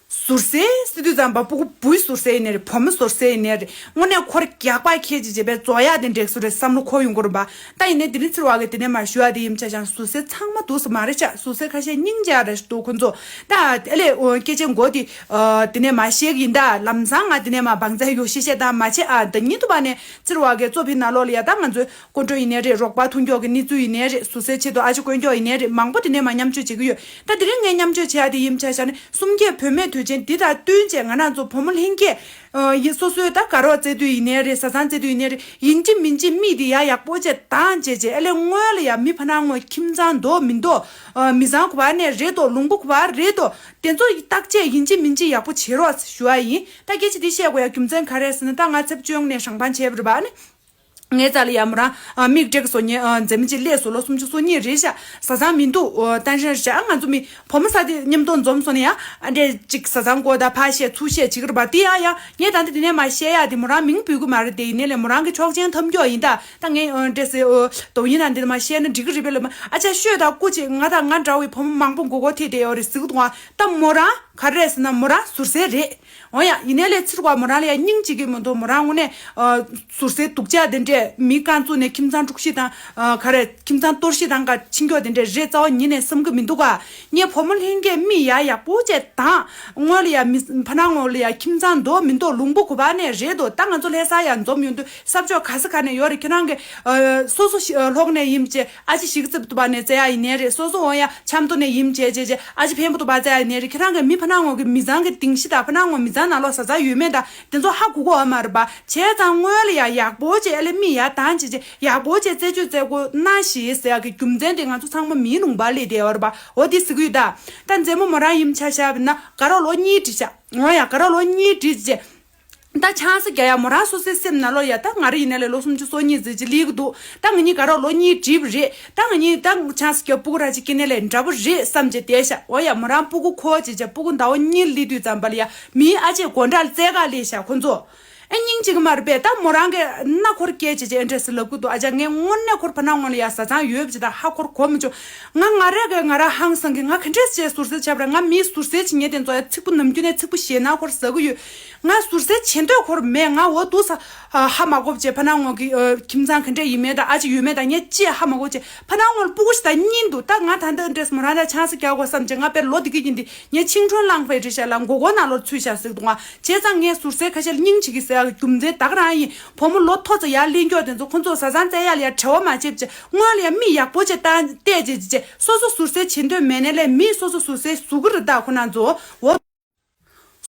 ཟུར་གསལ་སི་ཏུ་ཙམ་པ་པོ་ཁོ་བུའི་ཟུར་གསལ་ཡིན་ནི་རེད་བུ་མོ་ཟུར་གསལ་ཡིན་ནི་རེད་དངོས་གནས་ཁོ་རེ་རྒྱག་པ་ཁྱེད་ཀྱིས་བྱས་པའི་རྩོ་ཡག་དེ་འགྲིགས་སུ་རེད་བསམ་བློ་ཁོ་ཡོང་གི་རུང་བ་ད་ཡིན་ནི་དེ་རིང་ཚིར་བ་གི་དེ་ནས་མར་ཞུ་བ་དེ་ཡིན་བྱ་ཞང་ཟུར་གསལ་ཚང་མ་འདུག་ས་མ་རེད་ཆགས་ཟུར་གསལ་ཁ་ཤས་སྙིང་རྗེ་རེད་འདུག་ཁོ་ཚོ་ད་དེ་ལས་སྐད་ཆའི་མགོ་དེ་དེ་ནས་མ་བཤད་གི་ཡིན་ད་ལམ་སང་ང་དེ་ནས་མ་འབངས་ཚ་ཡོ་ཤེས་ཤེས་དང་མ་བྱས་ཨ་ད་ཉིན་ཐུ་བ་ནས་ཚིར་བ་གའི་གཙོ་ཕི་ནག་ལོག་ལ་ཡ་ད་ང་ཚོའི། སྐུ་མགྲོན་ཡིན་ནའི་རེད་རོགས་པ་ཐུགས་མགྱོགས་ཀྱི་གནས་ཚུལ་ཡིན་ནའི་རེད་ཟུར་ཟའི་ཆེད་དུ་ཨ་ཅེ་དཀོན་མགྱོགས་ཡིན་ནའི་རེད་མང་པོ་དེ་ནས་མ་མཉམ་སྤྱོད་བྱེད་ཀྱི་ཡོད་ད་དེ་རིང་ངས་མཉམ་སྤྱོད་བྱེད་ཡ་དེ་ཡིན་བྱ་བྱ་ནི་གསུམ་བརྒྱད་བུད་མེད་དུས་ཆེན་འདི་དང་བསྟུན་བཅས་ང་རང་ཚོ་བུ་མོ་ལྷན་རྒྱས་ཡིན་སོ་སོའི་ད་དགའ་རོགས་བཙལ་དུས་ཡིན་ནའི་རེད་བཟའ་ཚང་བཙལ་དུས་ཡིན་ནའི་རེད་ཡིན་གཅིག་མིན་གཅིག་མིག་འདི་ཡག་ཡག་པོ་བྱེད་དང་བྱེད་བྱེད་ཨེ་ལས་སྔོན་ལ་ཡང་མི་ཕ་ནང་ངོ་ཁྱིམ་ཚང་འདོག་མི་འདོག་མི་བཟང་གོ་བ་ནས་རེད་དོ་ལུང་པོ་གོ་བ་རེད་དོ་དེ་ཚོ་བརྟག་དཔྱད་ཡིན་གཅིག་མིན་གཅིག་ཡག་པོ་བྱེད་རོགས་ཞུ་བ་ཡིན་ད་སྐད་ཆ་འདི་བཤད་དགོས་ཡ་རྒྱུ་མཚན་ག་རེ་ཟེར་ན་ད་ང་ཚེབ་ཅོང་ནས་ཧྲང་པང་བྱེད་རེད་པ་ནི། ངའི་རྩར་ལ་ཡར་མོ་རང་མིག་བགྲད་ཀྱི་སོ་ཉལ་འཛེམ་མེད་ཀྱི་སླད་སུ་ལོ་སུམ་ཅུ་སོ་གཉིས་རེད་བཞག་བཟའ་ཚང་མི་འདུག་ཏན་ཧྲན་བཞག་ང་ཚོ་མི་ཕོ་མོ་ས་དེ་མཉམ་གཏོང་འཛོམས་སོང་ན་ཡང་ཨ་འདྲས་ཅིག་བཟའ་ཚང་དགོ་ད་ཕ་བཤད་ཚུ་བཤད་བྱེད་ཀྱི་རེད་བ་དེ་ཡང་ཡང་ངས་ད་ནི་དེ་ནས་མ་བཤད་ཡ་དེ་མོ་རང་མིང་འབུལ་གི་མ་རེད་དེ་ཡིན་ནའི་ལས་མོ་རང་གི་ཆོག་མཆན་ཐོབ་མགྱོགས་ཡིན་ད་ད་ངས་འདྲས་སེ་དོག་ཡིན་ན་འདི་ད་མ་བཤད་ན་འགྲིག་གི་རེད་བས་ལབ་མ་ཨ་ཅག་ཤོད་ད་སྐུ་ཅིག་ང་དང་ང་འདྲ་བའི་ཕོ་མོ་མང་པོ་མགོ་སྐོར་ཐེད་དེ་ཡོད་རེད་ཟིག་དོང་ད་མོ་རང་ག་རེད་ཟེར་ན་མོ་རང་ཟུར་ཟའི་རེད། འོན་ཡང་ཡིན་ནའི་ལས་ཚུར་བ་མོ་རང་ལ་ཡང་སྙིང་གཅིག་གིས་མི་འདུག་མོ་རང་དངོས་གནས། ཟུར་ཟའི་དུག་ལྕག་དེ་འདྲས་མི་རྐང་བཙུགས་ནས་ཁྱིམ་ཚང་དཀྲུགས་ཤིང་དང། ག་རེ། ཁྱིམ་ཚང་གཏོར་ཤིང་དང་ག་ཕྱིན་འཁྱོག་དེ་འདྲས་རེད་རྩ་བ་ཉིད་ནས་བསམ་གི་མི་འདུག་ག། ངའི་བུ་མོ་ལྷན་རྒྱས་མིག་ཡག་ཡག་པོ་བྱས་དང། དངོས་ལ་ཡང་མི་ཕ་ནང་ལ་ཡང་ཁྱིམ་ཚང་འདོག་མི་འདོག་ལུང་པོ་གོ་བ་ནས་རེད་འདུག་ད་ང་ཚོ་ལྷས་ས་ཡང་འཛོམས་ཡོང་དུས་གསབ་ཕྱོགས་ག་ས་ག་ནས་ཡོད་རེད་ཁྱེད་རང་གིས། སོ་སོ་ལྷོག་ནས་ཡིན་བྱས། ཨ་ཅེ་ཞིག་གི་རྩེད་པོ་ཏུ་བབས་ནས་བཙལ་ཡ་ཡི་ནས་རེད་སོ་སོ་འོང་ཡ་ཆམ་གཏོར་ནས་ཡིན་བྱས་བྱས་བྱས་ཨ་ཅེ་འཕན་པོ་ཏུ་བ་བཙལ་ཡ་ཡི་ནས་རེད་ཁྱེད་རང་གིས་མི་ཕ་ནག་ངོ་གི་མི་བཟང་གི་དིང་ཤི་དང་ཕ་ནག་ངོ་མི་བཟང་ནང་ལོག་ཟ་ཟ་ཡོད་མེད་དང་དེ་ཚོ་ཧ་གོ་གོ་ཨ་མར་བ་བྱས་ཙང་དངོས་ལ་ཡག་ཡག་པོ་བྱས་ཨ་ལས་མི་ཡག་དང་བྱས་བྱས་ཡག་པོ་བྱས་རྩད་གཅོད་རྩད་གོ་ན་ཞེས་ཟེར་ཡ་གི་རྒྱུ་མཚན་དེ་ང་ཚོ་ཚང་མ་མིའི་ལུང་པར་ལས་དེ་བར་བ་འོ་དེ་ཟིག་གུ་ཡོད་ད་ད་མཛེས་མོ་མོ་རང་ཡིམ་ཆ་ཤ་བས་ན་དགའ་རོགས་ལོ་གཉིས་བྲིས་ཤ་འོང་ཡ་དགའ་རོགས་ལོ་གཉིས་བྲིས་བྱས་བྱས། ད་ཆང་ས་རྒྱ་ཡ་མོ་ར་སོ་སའི་སེམས་ན་ལོ་ཡ་ད་ང་ར་ཡིན་ན་ལས་ལོ་སུམ་ཅུ་སོ་གཉིས་ཟེར་གྱི་ལིས་གི་འདུག་ད་ང་གཉིས་ཀ་རོགས་ལོ་གཉིས་གྲིབ་རེད་ད་ང་གཉིས་ད་ཆང་ས་རྒྱ་པུ་གུ་ར་གཅིག་སྐྱེ་གནས་ལས་འདྲ་པོ་རེད་བསམ་གྱི་དེ་ཤ་བོ་ཡ་མོ་རང་པུ་གུ་ཁོ་ཅེས་བྱ་པུ་གུ་མདའ་བོ་གཉིས་ལིས་དུས་ཙམ་པ་ལ་ཡ་མིའི་ཨ་ཅེས་གོ་འདྲ་རྩེ་ག་ལིས་ཤ་ཁོ་ཚོ་ཨེ་སྙིང་གཅིག་མ་རེད་པས་ད་མོ་རང་གི་ན་འཁོར་སྐྱེས་ཅེས་བྱས་ཨེ་འདྲ་ཟེར་ལབ་གི་འདུག་ཨ་ཅག་ངས་སྔོན་ན་འཁོར་ཕ་ན་སྔོན་ལ་ཡ་བཟའ་ཚང་ཡོད་བྱས་ད་ཧ་འཁོར་གོ་མི་ཆོག་ང་ང་ར་གི་ང་ར་ཧང་སང་གི་ང་ག་འདྲས་བྱས་ཟུར་ཟེར་བྱས་པ་ར་ང་མིའི་ཟུར་ཟེར་བྱས་ངས་དེ་ཚོ་ཡ་ཚིག་པུ་ནམ་རྒྱུན་ནས་ཚིག་པུ་བཤད་ན་འཁོར་ཟ་གི་ཡོད། ང་ཟུར་ཟའི་ཆེ་འདོད་ཁོར་མེད་ང་འོ་དུ་ས་ཧ་མ་གོ་བྱེད་ཕ་ནང་ངོ་གི་ཁྱིམ་ཚང་གི་འདྲེ་ཡིན་མེད་དང་ཨ་ཅེ་ཡོད་མེད་དང་ངས་ཅི་ཧ་མ་གོ་བྱེད་ཕ་ནང་ངོར་སྤུ་གུ་ཞིག་ད་གཉིས་འདུག་ད་ང་ད་འདི་འདྲེས་མོ་རང་རང་ཆང་ས་རྒྱག་དགོས་བསམ་བྱེད་ང་དཔེར་ལོ་དེ་གི་ཡིན་དེ་ངས་ཆིང་ཁྲོན་བླངས་ཕའི་འདྲེ་ཞག་ལ་མགོ་སྐོར་ནང་ལོར་ཚུད་ཞག་ཟིག་འདུག་ང་བྱས་ཙང་ངས་ཟུར་ཟའི་ཁ་ཤལ་སྙིང་བྱེད་ཀི་ཟེར་ཡག་རྒྱུ་མཚན་བདག་རང་ཡིན་བུ་མོ་ལོ་ཐོ་ཙ་ཡག་གླིང་སྐྱོག་དེ་ཚོ་ཁོ་ཚོ་ཟ་ཟང་བཙལ་ཡག་ལ་ཡག་བྲེལ་བ་མ་བྱེད་བྱས་སྔོན་ལ་ཡང་མི་ཡག་པོ་བྱས་ཏང་བལྟས་བྱས་བྱས་བྱས་སོ་སོ་ཟུར་ཟའི་ཆེ་འདོད་མེད་ནས་ལས་མི་སོ་སོ་ཟུར་ཟའི་གཟུགས་རི་དྭགས་ཁོ་ན་ཚོ་འོ།